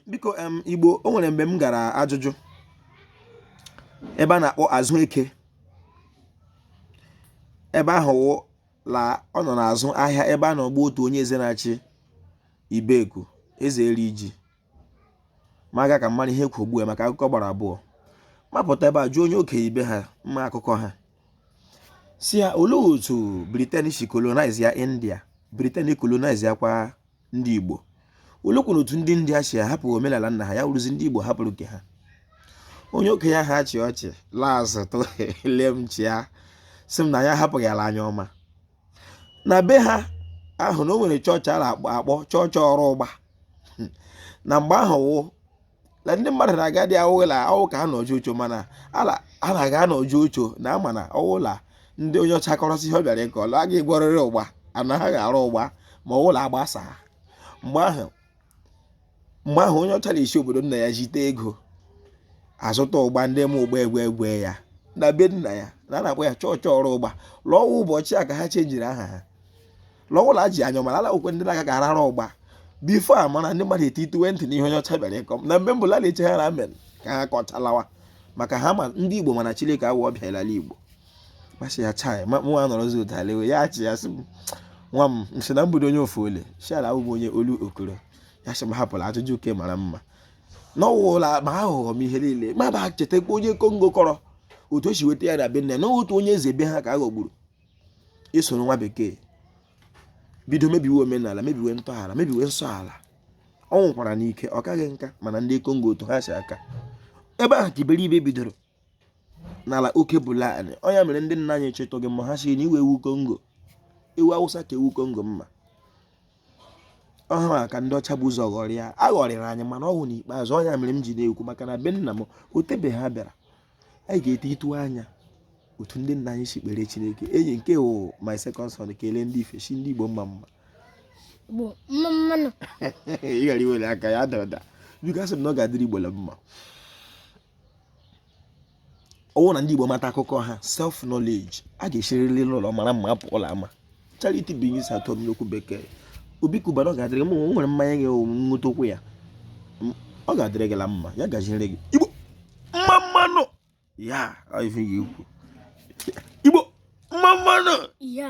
biko em igbo o nwere mgbe m gara ajụjụ ebe a na-akpọ azụ eke ebe ahụ wụ la ọ nọ n'azụ ahịa ebe a na-ọgba otu onye eze na-achị ibeku eze eri iji ma aga ka mmadụ ihe kwugbu ya maka akụkọ gbara abụọ m apụta ebe a jụọ onye okenye ibe ha ma akụkọ ha sị ya olee otu britain si colonize ya india britain colonize ya kwa ndị Igbo oleekwanụ otu ndị india si ahapụ omenala nna ha ya wụrụzi ndị Igbo hapụrụ nke ha onye okenye ahụ achịa ọchị laa azụ tụrụ lee m chịa sị m na anyị ahapụghị ala anya ọma na be ha ahụ na o nwere chọọchị a na-akpọ chọọchị ọra ụgba na mgbe ahụ wụ na ndị mmadụ na-aga dị awụla awụ ka ha nọjụ ucho mana ala a na-aga anọjụ ucho na ama na ọwụla ndị onye ọcha kọrọsị ihe ọ bịara ịkọ ọlụ a ga-agwọrịrị ụgba anaghị ara ụgba ma ọwụla agbasa mgbe ahụ onye ọcha na-esi obodo nna ya zite ego azụta ụgba ndị ma ụgba egwe egwe ya na be nna ya na a na-akpọ ya chọọchị ọra ụgba la ọ wụ ụbọchị a ka ha chenjiri aha ha la ọwụla ji anya ọmara ala okwe ndị na-agaghị arara ụgba before a mara ndị mmadụ etituwe ntị n'ihe onye ọcha bịara ịkọ na mgbe mbụ lala eche ha na amen ka ha kọchalawa maka ha ma ndị igbo mana chineke awụ ọbịa l'ala igbo m asị ya chai nwa nọrọzi ụtalewe ya achịa sị m nwa m nsị na mbudo onye ofu ole shara abụbụ onye olu okoro ya sị m hapụrụ ajụjụ uke mara mma n'ọwụla ma aghụghọ m ihe niile m abịa chetakwa onye kongo kọrọ otu o si weta ya na be nne na otu onye eze be ha ka a ghọgburu o soro nwa bekee bido mebiwe omenala mebiwe ntọala mebiwe nsọ ala ọ nwụkwara n'ike ọ kaghị nka mana ndị kongo otu ha si akọ ebe ahụ ka iberibe bidoro n'ala oke bụlanị ọ ya mere ndị nna anyị chịtụ gị mma ha sị na iwe ewu kongo ewu awụsa ka ewu kongo mma ọ ha ka ndị ọcha bu ụzọ ghọrịa a ghọrịrị anyị mana ọ wụ n'ikpeazụ ọ ya mere m ji na-ekwu maka na be nna m o tebeghị ha bịara anyị ga-etituwe anya otu ndị nna anyị si kpere chineke enyi nke wụ my second son kelee ndị ife sị ndị igbo mma mma nụ mma mma nụ ị ghara iwere aka ya ada ụda biko asị m na ọ ga-adịrị igbo mma ọ wụ na ndị igbo mata akụkọ ha self knowledge a ga-esiriri n'ụlọ mara mma apụ l'ama charity begins at home n'okwu bekee obi kubana ọ ga-adịrị m nwere mmanya gị nweta okwu ya ọ ga-adịrị gị la mma ya gaziere gị igbo mma mma nụ ya ife ya ikwu igbo mma mma nụ ya